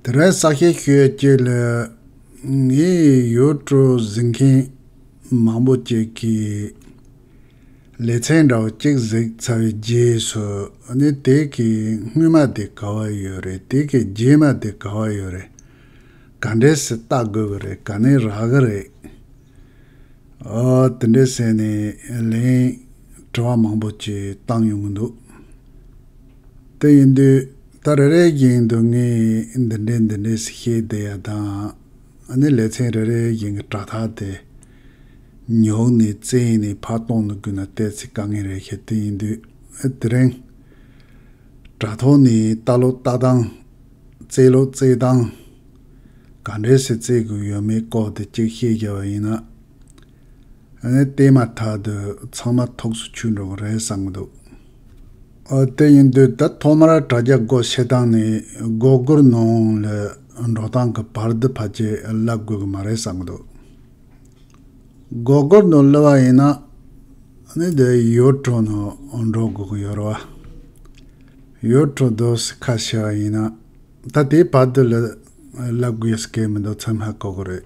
དེ་རིང་ས་སྐྱའི་ཤོད་བརྒྱད་ལ། ངའི་ཡུལ་གྲུ་གཟིགས་མཁན་མང་པོ་ཅིག་གིས། ལེ་ཚན་འདྲ་བོ་གཅིག་གཟིགས་ཚར་བའི་རྗེས་སུ། ནི་དེ་གའི་སྔོན་མ་དེ་ག་བ་ཡོད་རེད་དེ་གའི་རྗེས་མ་དེ་ག་བ་ཡོད་རེད། ག་འདྲའི་སྲི་བཏགས་དགོས་ཀྱི་རེད་ག་ནི་རག་གི་རེད། ཨོ། དེ་འདྲའི་ཟེར་ནས་ལན། དྲི་བ་མང་པོ་ཅིག་བཏང་ཡོང་གི་འདུག། དེ་ཡིན་དུས་ད་རེ་རེའི་རྒྱན་དུ་ངས་འདི་འདྲས་འདི་འདྲས་ཟེར་ཤེས་བསྡད་ཡ་དང། ནི་ལེ་ཚན་རེ་རེའི་རྒྱན་གྱི་དྲ་ཐག་དེ་ཉོག་ནས་བཙལ་ནས་ཕར་གཏོང་དུ་བསྐུར་ན་བལྟས་ཚེ་དཀའ་ངལ་རེད་ཤེས་དེ་ཡིན་དུས་དེ་རིང་དྲ་ཐོག་ནས་ལྟ་ལོ་ལྟ་སྟངས་བཙལ་ལོ་བཙལ་སྟངས་ག་འདྲས་སུ་བཙལ་དགོས་ཡོད་མེད་ལྐོག་ཏུ་གཅིག་ཤེས་རྒྱ་བ་ཡིན་ན། བལྟས་མ་ཐག་ཏུ་ཚང་མ་ཐུགས་སུ་ཆུད་འགྲོ་གི་རེད་བསམ་གི་འདུག་དེ་ཡིན་དུས་ད་ཐོག་མར་དྲ་རྒྱ་སྒོ་ཕྱེ་སྟངས་ནས་སྒོ་སྒོར་ནང་ལ་འགྲོ་སྟངས་ཀྱི་བར་འདི་ཕལ་ཆེར་བསླབ་དགོས་ཀྱི་མ་རེད་བསམ་གི་འདུག་སྒོ་སྒོར་ནང་བསླབ་བ་ཡིན་ན་ནི་འདི་ཡུལ་གྲོང་ནང་འགྲོ་དགོས་ཀྱི་ཡོད་རེད་བ། ཡུལ་གྲོང་དུ་སི་ཁ་ཤི་བ་ཡིན་ན་ད་དེའི་བར་འདི་ལ་བསླབ་དགོས་ཀྱི་སྐད་མི་འདུག་ཚང་མ་གོ་གི་རེད།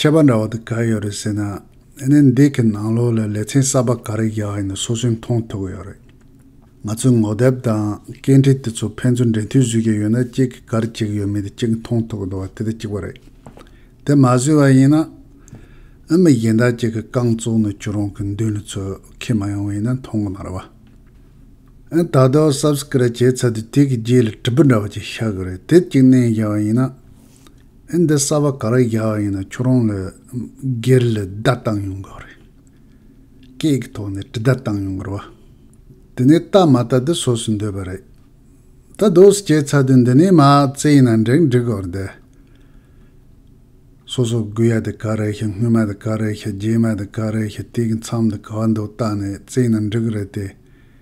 ཁྱད་པར་འདྲ་བ་དེ་ག་ཡོད་རེད་ཟེར་ན། ཨ་ནེ་འདི་གི་ནང་ལོགས་ལ་ལེ་ཚན་གསར་པ་ག་རེ་བཞག་ཡོད་ན་སོ་སོས་མཐོང་ཐུབ་ཀྱི་ཡོད་རེད། ང་ཚོས་ངོ་དེབ་དང་སྐད་འཕྲིན་དེ་ཚོ་ཕན་ཚུན་འབྲེལ་མཐུད་བཟོས་ཀྱི་ཡོད་ན་གཅིག་གི་གར་གཅིག་ཡོད་མེད་དེ་གཅིག་མཐོང་ཐུབ་ཀྱི་འདུག་བ་དེ་དེ་གཅིག་པ་རེད། དེ་མ་བཟོས་པ་ཡིན་ན། ཨ་མི་གཞན་དག་གཅིག་གི་རྐང་བཙུགས་ནས་ཁྱོད་རང་གི་མདུན་ལ་ཚོས་ཁས་མ་ཡོང་བ་ཡིན་ན་མཐོང་གི་མ་རེད་བ། ཨན་ད་ལྟ་བ Subscribe བྱས་ཚར་དུས་དེ་གི་རྗེས་ལ་དྲིལ་བུ་འདྲ་བ་གཅིག་ཤར་གི་རེད་དེ་གཅིག་བསྣན་བཞག་པ་ཡིན་ན། ཨེ་འདི་གསར་པ་ག་རེ་རྒྱག་ཡིན་ན་ཁྱོད་རང་ལ་སྒེར་ལ་བརྡ་བཏང་ཡོང་གི་རེད། སྐད་ཀྱི་ཐོག་ནས་དྲི་བརྡ་བཏང་ཡོང་གི་རེད་བ། དེ་ནས་ལྟ་མ་ལྟ་དེ་སོ་སོས་འདོད་པ་རེད། ད་རྡོ་སི་ཅེ་ཚ་དུས་འདི་ནས་མ་རྩེ་ཡིན་ན་འགྲིག་འགྲིག་གི་རེད། སོ་སོ་དགོས་ཡ་དེ་ག་རེ་ཤི་སྔོན་མ་དེ་ག་རེ་ཤི་རྗེས་མ་དེ་ག་རེ་ཤི་དེ་གི་མཚམས་དེ་ག་འདུག་ལྟ་ནས་རྩེ་ཡིན་ན་འགྲིག་གི་རེད་དེ།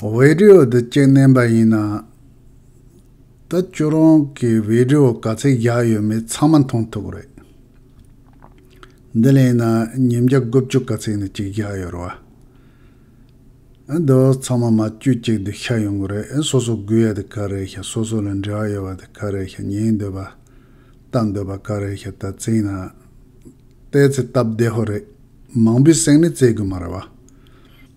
བིདེའོ་འདི་སྐྱེལ་བསྣན་པ་ཡིན་ན། ད་ཁྱོད་རང་གི་བིདེའོ་ག་ཚད་བཞག་ཡོད་མེད་ཚང་མ་མཐོང་ཐུབ་རེད། འདི་ལས་ན་ཉིན་བརྒྱ་དགུ་བཅུ་ག་ཚད་ནས་ཅིག་བཞག་ཡོད་རེད་བ། འདི་ཚང་མ་མ་བཅོས་ཅིག་འདི་ཤ་ཡོང་གི་རེད་སོ་སོ་དགོས་ཡ་དེ་ག་རེད་ཤ་སོ་སོ་ལ་འབྲེལ་བ་ཡོད་པ་དེ་ག་རེད་ཤ་ཉན་འདོད་པ་ལྟ་འདོད་པ་ག་རེད་ཤ་ད་ཚིག་ན་ལྟས་ཚེ་སྟབས་བདེ་ཧོ་རེད་མང་པོའི་སེང་ནི་བཙལ་དགོས་མ་རེད་བ།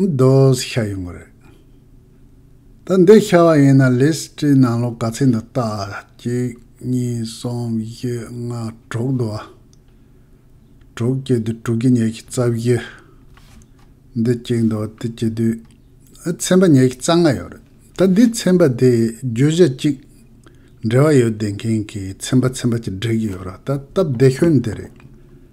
རྡོས་ཤ་ཡོང་གི་རེད། ད་འདི་ཤ་བ་ཡིན་ན་ལིས་ཀྲིའི་ནང་ལོག་ག་ཚད་འདི་ལྟ་ཨ། གཅིག་གཉིས་གསུམ་བཞི་ལྔ་དྲུག་འདུག་ཨ། དྲུག་བཅུ་དུས་དྲུག་བརྒྱ་ཉེར་གཅིག་རྩ་བཞི། འདི་གཅིག་འདུག་དེ་གཅིག་དུས་ཨ་ཚན་པ་ཉེར་གཅིག་རྩ་ལྔ་ཡོད་རེད། ད་འདི་ཚན་པ་དེ་རྒྱུ་གཞི་གཅིག་འབྲེལ་བ་ཡོད་བསྡད་མཁན་གྱི་ཚན་པ་ཚན་པ་གཅིག་སྒྲིག་གི་ཡོད་རེད་ད་སྟབས་བདེ་ཤོས་འདི་རེད།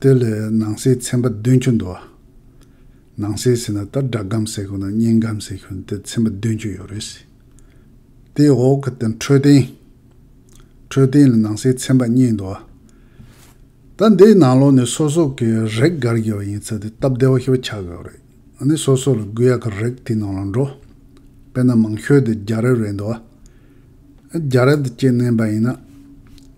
དེ་ལས་ནང་གསེས་ཚན་པ་བདུན་ཅུ་འདུ་བ། ནང་གསེས་ཟེར་ན་ད་སྦྲགས་སྒམ་ཟེར་དགོས་ན་བརྙན་སྒམ་ཟེར་ཤོར་ནས་དེ་ཚན་པ་བདུན་ཅུ་ཡོད་རེད། དེའི་འོག་གི་དེ་འཕྲོད་བསྟེན། འཕྲོད་བསྟེན་ལ་ནང་གསེས་ཚན་པ་གཉིས་འདུ་བ། ད་འདིའི་ནང་ལོགས་ནས་སོ་སོ་གི་རེག་དགར་དགོས་པ་ཡིན་ཚ་དེ་སྟབས་བདེ་བོ་ཞིག་བྱ་དགོས་པ་རེད། ཨ་ནི་སོ་སོ་ལ་དགོས་ཡག་གི་རེག་དེའི་ནང་ལ་འགྲོ། དཔེར་ན་མང་ཤོས་དེ་རྒྱ་རེབ་རེད་འདུ་བ། རྒྱ་རེབ་དེ་སྐྱེས་གནས་པ་ཡིན་ན།